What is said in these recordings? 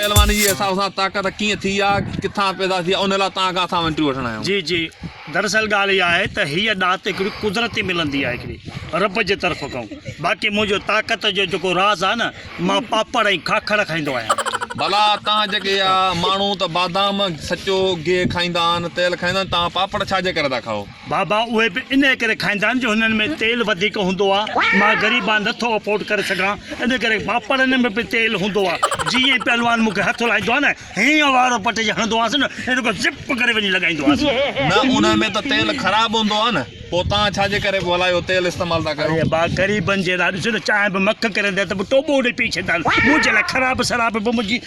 پهلوان جي حساب سان طاقت ڪيئن ٿي يا ڪٿان پيدا ٿي ان لاء توهان کان اسان وينٽريو وٺڻ آيا آهيون. جي جي دراصل ڳالهه اها آهي ته هيء ڏات هڪڙي قدرتي ملندي آهي هڪڙي رب جي طرف کان باقي منهنجو طاقت جو جيڪو راز آهي نه مان پاپڙ ۽ کاکڙ کائيندو آهيان. ڀلا توهان جيڪي اها ماڻهو ته بادام سچو گيهه کائيندا آهن تيل کائيندا آهن توهان پاپڙ ڇا جي ڪري ٿا کائو. بابا اهي به انهيء ڪري کائيندا آهن جو هنن ۾ تيل وڌيڪ هوندو آهي. مان غريب آهيان، نٿو افورڊ ڪري سگهان، ان ڪري پاپڙن ۾ به تيل هوندو آهي. جيئن ئي پهلوان مون کي هٿ هلائيندو آهي نه، هينئن وارو پٽي جي هڻندو آهيانس نه، هينئن رڳو زپ ڪري وڃي لڳائيندو آهيانس. نه، انهيء ۾ ته تيل خراب هوندو آهي نه، پوء توهان ڇا جي ڪري ڀلا اهو تيل استعمال ٿا ڪريو؟ اري ڀاء، غريبن جي لاء ڏسو نه، چانهه به مک ڪري ڏين ته به ٽوٻو ڏيئي پي ڇڏيندا آهن. منهنجي لاء خراب سراب به منهنجي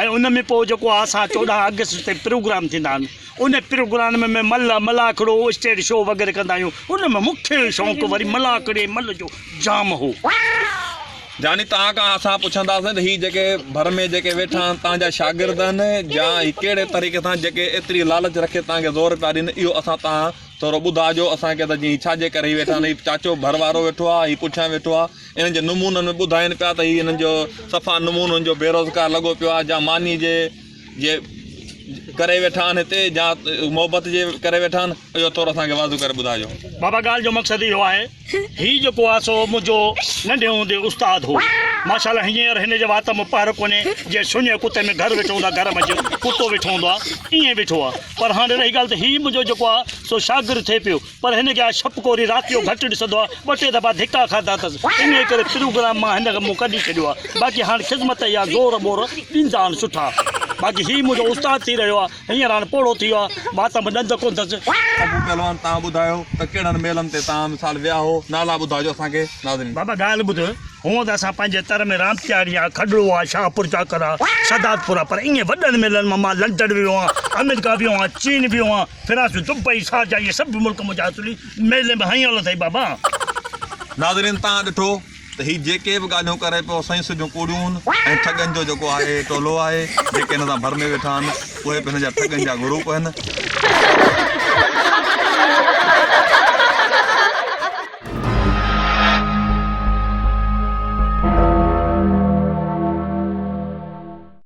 ۽ ان ۾ پوء جيڪو آهي سا چوڏهن آگسٽ تي پروگرام ٿيندا آهن ان پروگرام ۾ ملهه ملاکڙو اسٽيڊ شو وغيره ڪندا آهيون ان ۾ مون کي شوق وري ملاکڙي ملهه جو جام هو. جاني توهان کان اسان پڇنداسين ته هي جيڪي ڀر ۾ جيڪي ويٺا آهن توهان جا شاگرد آهن يا هي ڪهڙي طريقي سان جيڪي ايتري لالچ رکي توهان کي زور پيا ڏين اهو اسان توهان ٿورو ٻڌاء جو اسان کي ته جي هي ڇا جي ڪري هي ويٺا آهن هي چاچو ڀر وارو ويٺو آهي هي پٺيان ويٺو آهي انهن جي نمونن ۾ ٻڌائين پيا ته هي انهن جو صفا نمونن جو بيروزگار لڳو پيو آهي جا ماني جي جي ڪري ويٺا آهن هتي جا محبت جي ڪري ويٺا آهن اهو ٿورو اسان کي واضح ڪري ٻڌايو بابا ڳالهه جو مقصد اهو آهي هي جيڪو آهي سو منهنجو ننڍي هوندي استاد هو ماشاءالله هينئر هن جي وات ۾ پهر ڪونهي جي سڃي ڪتي ۾ گهر ويٺو هوندو آهي گهر منجهه ڪتو ويٺو هوندو آهي ايئن ويٺو آهي پر هاڻي رهي ڳالهه ته هي منهنجو جيڪو آهي سو شاگرد ٿئي پيو پر هن کي آء شپ ڪوري رات جو گهٽ ڏسندو آهيان، ٻه ٽي دفعا ڌڪا کاڌا اٿس، انهيء ڪري پروگرام مان هن مون ڪڍي ڇڏيو آهي، باقي هاڻ خذمت يا زور ٻور ڏيندا آهن سٺا، باقي هي منهنجو استاد ٿي رهيو آهي، هينئر هاڻ پوڙهو ٿي ويو آهي، مان ته به ڏند ڪونه اٿس. ابو پهلوان توهان ٻڌايو ته ڪهڙن ميلن تي توهان مثال ويا هئو، نالا ٻڌاجو اسان کي ناظرين. بابا ڳالهه ٻڌ، هونء ته اسان پنهنجي تر ۾ رامتياڻي آ، کڏڙو آ، شاهپور چاڪر آ، سادات پور آ، پر ائين وڏن ميلن مان مان لنڊن ويو آهيان، آمريڪا ويو آهيان، چين ويو آهيان، فرانس، دبئي، شارجه اهي سڀ به ملڪ منهنجا اصولي ميلي ۾ هنيل اٿئي بابا. ناظرين تان ڏٺو ته هي جيڪي به ڳالهيون ڪري پيو سائين سڄيون ڪوڙيون ۽ ٺڳن جو جيڪو آهي ٽولو آهي جيڪي هن سان ڀر ۾ ويٺا آهن اهي به هن جا ٺڳن جا گروپ آهن.